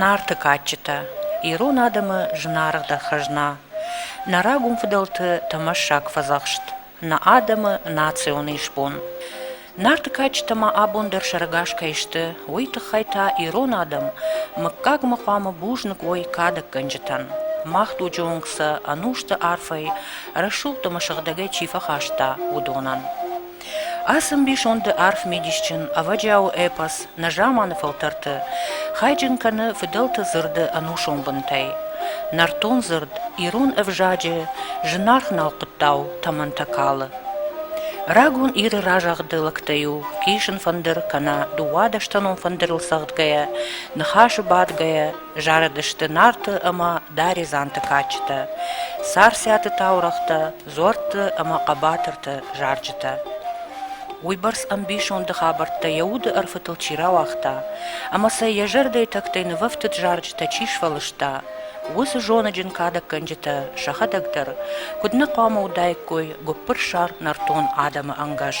Нарты кадджытӕ ирон адӕмы зынаргъдӕр хӕзна, нӕ рагон фыдӕлты тӕмӕссаг фӕдзӕхст, нӕ адӕмы национ исбон. Нарты кадджытӕ ма абон дӕр сӕрӕгас кӕй сты, уый тыххӕй та ирон адӕм мыггагмӕ хъуамӕ бузныг уой кадӕггӕнджытӕн. Мах дуджы онг сӕ ӕнусты арфӕй, рӕсугъд ӕмӕ сыгъдӕгӕй чи фӕхаста, уыдонӕн. Ацы ӕмбисонды арф мидисджын, ӕвӕджиауы эпос нӕзаманы фӕлтӕрты хайджын кӕны фыдӕлты дзырды ӕнусон бынтӕй, нӕртон дзырд, ирон ӕвзаджы зынаргъ налхъуыттау тӕмӕнтӕ калы. Рагон Иры разагъды лӕгтӕ иу исын фӕндыр кӕнӕ дыууадӕстӕнон фӕндырыл цӕгъдгӕйӕ, ныхасы бадгӕйӕ, зарыдысты Нарты ӕмӕ Даредзанты кадджытӕ, Царциаты таурӕгътӕ, дзуӕртты ӕмӕ хъӕбатырты зарджытӕ. Уыйбӕрц ӕмбисонды хабӕрттӕ йӕ уды ӕрфытыл чи рауагъта ӕмӕ сӕ йӕ зӕрдӕйы тӕгтӕй нывӕфтыд зарджытӕ чи сфӕлыста, уыцы зоныджын кадӕггӕнджытӕ сӕхӕдӕг дӕр куыд нӕ хъуамӕ уыдаиккой гуыппырсар нӕртон адӕмы ӕнгӕс.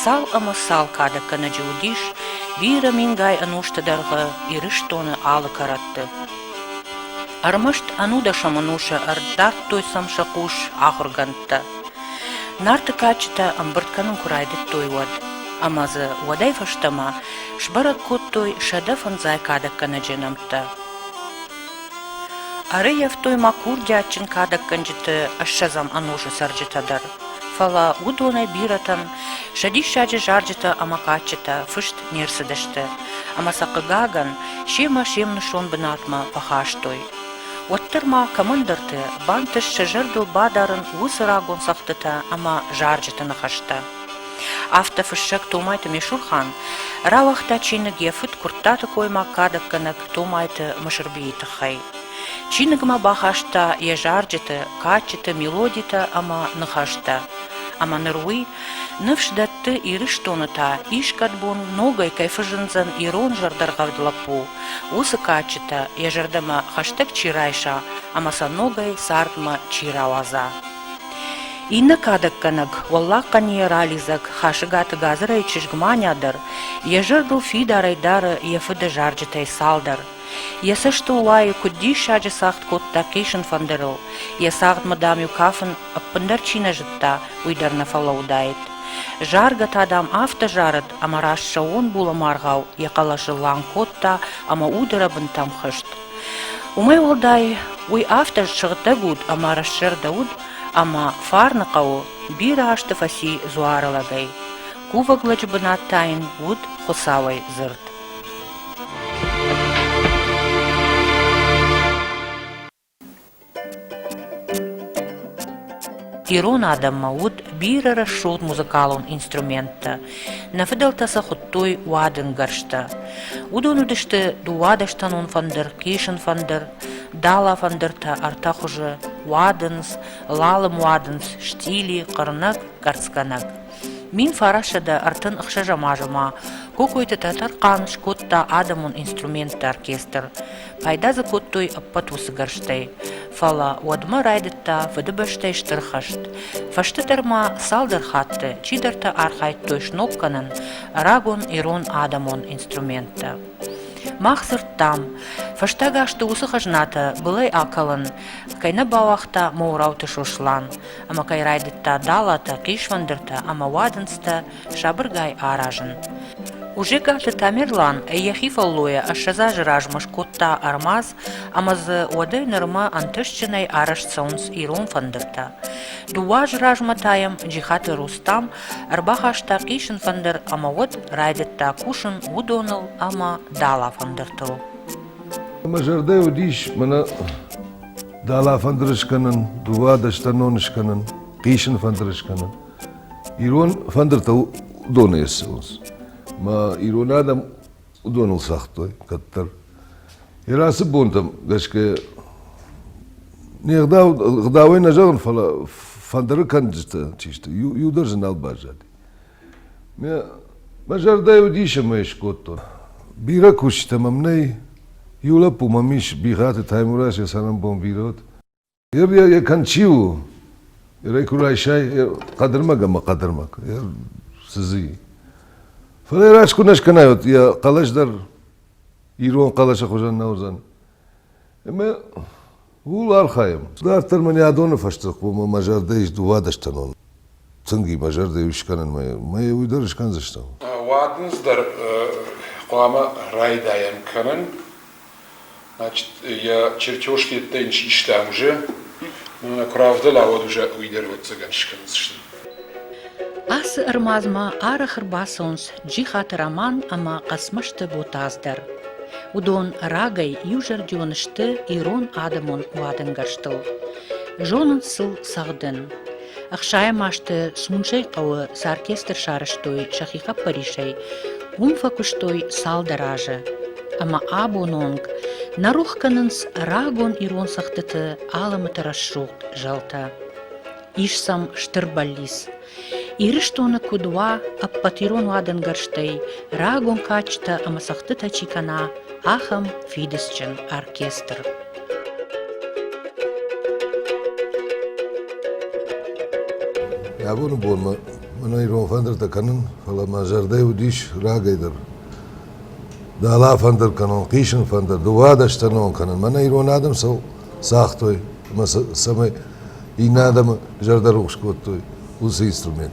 Цал ӕмӕ цал кадӕггӕнӕджы уыдис бирӕ мингай ӕнусты дӕргъы Ирыстоны алы кӕрӕтты. Ӕрмӕст ӕнудӕсӕм ӕнусы ӕрдардтой сӕм сӕ хъус ахуыргӕндтӕ. Нарты кадджытӕ ӕмбырд кӕнын куы райдыдтой, уӕд. Ӕмӕ дзы уӕдӕй фӕстӕмӕ сбӕрӕг кодтой сӕдӕ фӕндзай кадӕггӕнӕджы нӕмттӕ. Ӕрӕййӕфтой ма курдиатджын кадӕггӕнджыты ӕссӕдзӕм ӕнусы цӕрджытӕ дӕр, фӕлӕ уыдонӕй бирӕтӕн сӕ диссаджы зарджытӕ ӕмӕ кадджытӕ фыст не рцыдысты, ӕмӕ сӕ, хъыгагӕн, семӕ се мнусон бынатмӕ фӕхастой. Уӕддӕр ма кӕмӕндӕрты бантыст сӕ зӕрдыл бадарын уыцы рагон цӕгъдтытӕ ӕмӕ зарджыты ныхӕстӕ. Афтӕ фыссӕг Томайты Месурхан рауагъта чиныг йӕ фыд Куырттаты коймаг кадӕггӕнӕг Томайты Мысырбийы тыххӕй. Чиныгмӕ бахаста йӕ зарджыты, кадджыты мелодитӕ ӕмӕ ныхӕстӕ. Ӕмӕ ныр уый ныфс дӕтты, Ирыстоны та искӕд бон ногӕй кӕй фӕзындзӕн ирон зӕрдӕргъӕвд лӕппу, уыцы кадджытӕ, йӕ зӕрдӕмӕ хӕстӕг чи райса ӕмӕ сӕ ногӕй цардмӕ чи рауадза. Иннӕ кадӕггӕнӕг, Уӕллаг Хъӕнийӕ ралидзӕг Хасыгаты Гадзырайы чызг Маня дӕр йӕ зӕрдыл фидарӕй дары йӕ фыды зарджытӕй цалдӕр. Йӕ цӕстыл уайы, куыд диссаджы цагъд кодта хъисын фӕндырыл, йӕ цагъдмӕ, дам-иу кафын ӕппындӕр чи нӕ зыдта, уый дӕр нӕ фӕлӕуыдаид. Заргӕ та, дам, афтӕ зарыд, ӕмӕ раст сӕууон булӕмӕргъау йӕ хъӕлӕсы лӕг кодта ӕмӕ удырӕбынтӕм хызт. Уымӕй уӕлдай, уый афтӕ сыгъдӕг уд ӕмӕ рассӕрдӕ уд, ӕмӕ фарны хъӕуы бирӕ азты фӕци дзуары лӕгӕй, кувӕг лӕджы бынат та йын уыд Хуыцауӕй дзырд. Ирон адӕммӕ уыд бирӕ рӕсугъд музыкалон инструменттӕ. Нӕ фыдӕлтӕ сӕ хуыдтой уадынгӕрзтӕ. Уыдон уыдысты дыууадӕстӕнон фӕндыр, хъисын фӕндыр, дала фӕндыртӕ ӕртӕ хуызы – уадындз, лалым уадындз, стили, хъырнӕг, кӕрцгӕнӕг. Мин фарассӕдӕ ӕртын ӕхсӕзӕм азы ма Кокойты Тӕтӕрхъан скодта адӕмон инструменттӕ оркестр. Пайда дзы кодтой ӕппӕт уыцы гӕрзтӕй, фӕлӕ уӕдмӕ райдыдта Фыдыбӕстӕйы Стыр хӕст. Фӕстӕдӕр ма цалдӕр хатты чидӕртӕ архайдтой сног кӕнын рагон ирон адӕмон инструменттӕ. Мах дзырдтам, фӕстаг азты уыцы хӕзнатӕ былӕй акалын кӕй нӕ бауагъта Моурауты Сослан ӕмӕ кӕй райдыдта далатӕ, хъисфӕндыртӕ ӕмӕ уадындзтӕ сабыргай аразын. Ужегаты Тамерлан йӕхи фӕллойӕ ӕссӕдз азы размӕ скодта ӕрмадз ӕмӕ дзы уӕдӕй нырмӕ ӕнтыстджынӕй арӕзт цӕуынц ирон фӕндыртӕ. Дыууӕ азы размӕ та йӕм Джихаты Рустам ӕрбахаста хъисын фӕндыр ӕмӕ уӕд райдыдта кусын уыдоныл ӕмӕ дӕлӕфӕндыртыл. Мӕ зӕрдӕ уыдис мӕнӕ дӕлӕфӕндыр скӕнын, дыууадӕстӕнон скӕнын, хъисын фӕндыр скӕнын. Ирон фӕндыртыл уыдонӕй ссӕуынц. Мӕ ирон адӕм уыдоныл цагътой кӕддӕр. Йӕ рацы бонтӕм гӕсгӕ не гъдау, гъдауӕй нӕ зӕгъын, фӕлӕ фӕндыры кӕнджытӕ чи сты, иу, иу дӕр дзы нал баззади. Мӕ, мӕ зӕрдӕйы уыдис ӕмӕ ӕй скодтон. Бирӕ кусджытӕ мӕм нӕй. Иу лӕппу мӕм ис, Бихаты Таймураз, йӕ цӕрӕнбон бирӕ уыд. Ир кӕн чи у? Ирӕй куы райсай хъӕдырмӕг ӕмӕ хъӕдырмӕг. Сызы. Фӕлӕ йӕ раст куы нӕ скӕнай, йӕ хъӕлӕс дӕр ирон хъӕлӕсы хуызӕн нӕ уыдзӕн. Ӕмӕ ууыл архайӕм. Дарддӕр мын йӕ адоны фӕстӕ хъуамӕ мӕ зӕрдӕ ис дыууадӕс тӕнон. тынг и базӕрдӕ скӕнынмӕ, мӕ уый дӕр скӕндзыстӕм. Уӕд ын дӕр хъуамӕ райдайӕм кӕнын. Значит, я чертежки это ин систам уже, но на куравдылауӕд уже уый дӕр ӕвӕццӕгӕн скӕндзысты. Ацы ӕрмадзмӕ арӕх ӕрбацӕуынц Джихаты Роман ӕмӕ Хъӕцмӕзты Ботаз дӕр. Уыдон рагӕй иузӕрдион сты ирон адӕмон уадӕнгӕрзтыл. Зонынц сыл цӕгъдын. Ӕхсайӕм азты Смуджайы хъӕуы цы оркестр сарӕзтой сӕхи хъӕппӕрисӕй, уым фӕкуыстой цалдӕр азы. Ӕмӕ абон онг нӕ рох кӕнынц рагон ирон цӕгъдыты алымыты рӕсугъд зӕлтӕ. Ис сӕм стыр бӕллиц. Ирыстоны куыд уа, ӕппӕт ирон уадӕнгӕрзтӕй рагон кадджытӕ ӕмӕ цӕгъдтытӕ чи кӕна, ахӕм фидыцджын оркестр. Абоны бонмӕ мӕн ирон фӕндыртӕ кӕнын, фӕлӕ мӕ зӕрдӕ уыдис рагӕй дӕр. Дала фӕндыр кӕнон, хъисын фӕндыр, дыууадӕстӕнон кӕнын. Мӕнӕ ирон адӕм сыл цагътой, ӕмӕ цӕмӕй иннӕ адӕмы зӕрдӕ рухс кодтой, уыцы инструмент.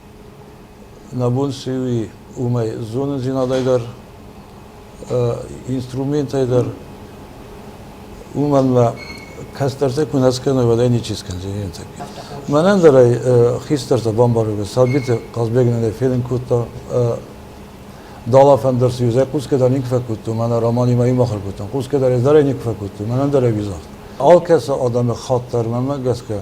Нӕ бон цы у, уымӕй зонындзинадӕй дӕр, инструментӕй дӕр, уымӕн мӕ кӕстӕртӕ куы нӕ скӕной, уӕд ӕй ничи скӕндзӕни ныртӕккӕ. Мӕнӕн дӕр ӕй хистӕртӕ бамбаргӕ, Сӕлбиты Хъазбег нын ӕй фенын кодта. Далафӕн дӕр цы ӕз ӕй хъусгӕ дӕр никуы фӕкодтон, мӕнӕ романимӕ имахур кодтон, хъусгӕ дӕр ӕз дӕр ӕй никуы фӕкодтон, мӕнӕн дӕр ӕй уизагъд. Алкӕцы адӕмы хатт дӕр, мӕнмӕ гӕсгӕ,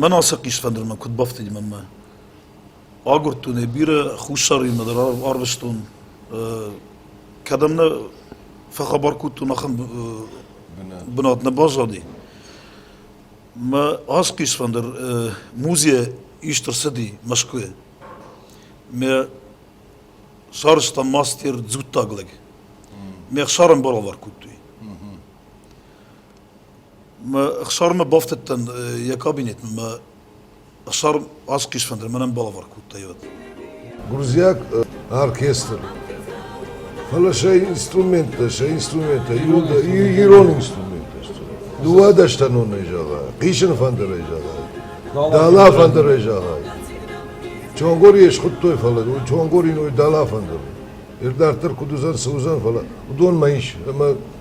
Мӕн ацы хъисфӕндырмӕ куыд бафтыди мӕнмӕ? Агуырдтон ӕй бирӕ хуссариимӕ дӕр арвыстон. Кӕдӕм нӕ фӕхабар кодтон, ахӕм бынат нӕ баззади. Мӕ ацы хъисфӕндыр музейӕ ист ӕрцыди Мӕскуыйы. Мӕ сарӕзтам мастер «Дзуттаг лӕг». Мӕ ӕхсар ӕмбал алӕг кодтой. Мӕ хсармӕ бафтыдтӕн йӕ кабинетмӕ мӕ хсар асхъис фӕндыд, мӕнӕн балӕвар кодта йӕ. Гуырдзиаг оркестр. Фӕлӕ сӕ инструменттӕ, сӕ инструменттӕ ирон, ирон инструменттӕ сты. Дыууадӕстӕнонӕй зӕгъай, хъисыны фӕндырӕй зӕгъай, дала фӕндырӕй зӕгъай. Чонгорийы схуыдтой, фӕлӕ Чонгори ной дала фӕндыр. Ир дарддӕр куыд уыдзӕн, цы уыдзӕн, фӕлӕ уыдонмӕ ис ӕмӕ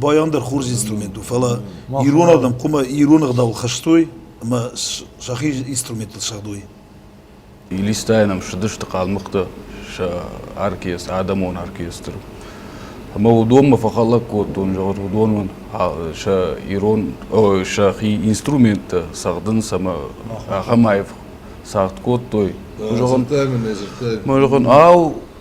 байандӕр хорз инструмент у фӕлӕ ирон адӕм хъуымӕ ирон ӕгъдауыл хӕстой ӕмӕ сӕхи инструменттыл сагъдой Илистайӕн ӕм ссыдысты хъалмыхъты сӕ оркестр, адӕмон оркестр. Ӕмӕ уыдонмӕ фӕхӕлӕг кодтон, зӕгъут, уыдон сӕ ирон, сӕхи инструменттӕ цӕгъдынц ӕмӕ ахӕм аив цагъд кодтой. Зӕгъын, мӕ зӕгъын, ау,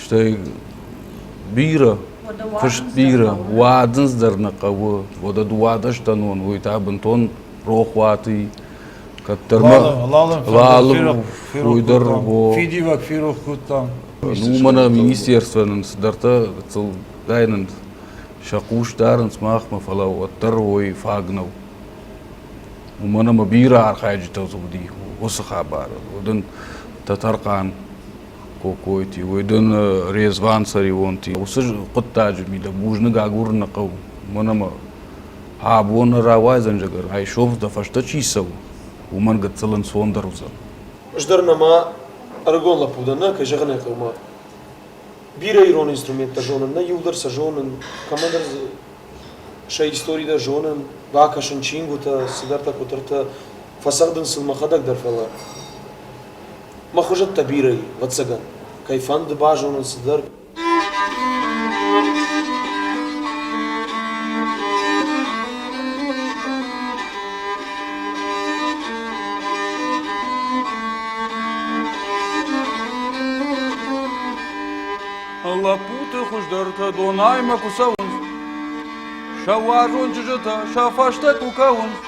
стӕй бирӕ фыст бирӕ уадындз дӕр нӕ хъӕуы уӕдӕ дыууадӕстӕн уон уый та бынтон рохуаты кӕддӕр уый дӕр фидивӕг ферох кодтам уымӕ нӕ министерствӕ нын цыдӕртӕ гыццылгай нын сӕ хъус дарынц махмӕ фӕлӕ уӕддӕр уой фаг нӕу уымӕн ӕмӕ бирӕ архайджытӕ уыди уыцы хабары уыд ын тӕтӕрхъан Кокойти, уой дон Резван-Цареонти. Уыцы хъуыддаджы ми дӕ бузныг агурын нӕ хъӕуы. Мӕн ӕмӕ абон рауайдзӕн зӕгӕр, айсов дӕ фӕстӕ чи цӕуы, уымӕн гыццыл ӕнцондӕр уыдзӕн. Ӕз дӕр нӕма ӕрыгон лӕппу дӕн, нӕ, кӕй зӕгъын ӕй хъӕуы, бирӕ ирон инструменттӕ зонын, нӕ иу дӕр сӕ зонын, кӕмӕндӕр дзы сӕ истори дӕр зонын, бакӕсын чингуытӕ, цыдӕртӕ, куыдӕртӕ, фӕцӕгъдын сын мӕхӕдӕг дӕр, фӕлӕ. Мӕ хуызӕттӕ бирӕ и, ӕвӕццӕгӕн, кӕй фӕнды базонын цыдӕр. Лӕппуты хуыздӕртӕ Донаймӕ куы цӕуынц, сӕ уарзон чызджытӕ сӕ фӕстӕ куы кӕуынц,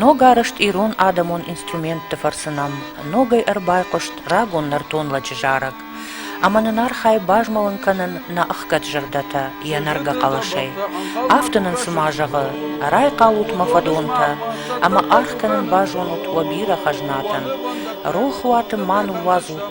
Ногарӕзт ирон адӕмон инструментты фӕрцы нӕм ногӕй ӕрбайхъуыст рагон нӕртон лӕджы зарӕг, ӕмӕ нын архайы базмӕлын кӕнын нӕ ӕхгӕд зӕрдӕтӕ йӕ нӕргӕ хъӕлӕсӕй. Афтӕ нын цыма зӕгъы: «Райхъалут мӕ фӕдонтӕ, ӕмӕ аргъ кӕнын базонут уӕ бирӕ хӕзнатӕн. Рох уаты ма ныууадзут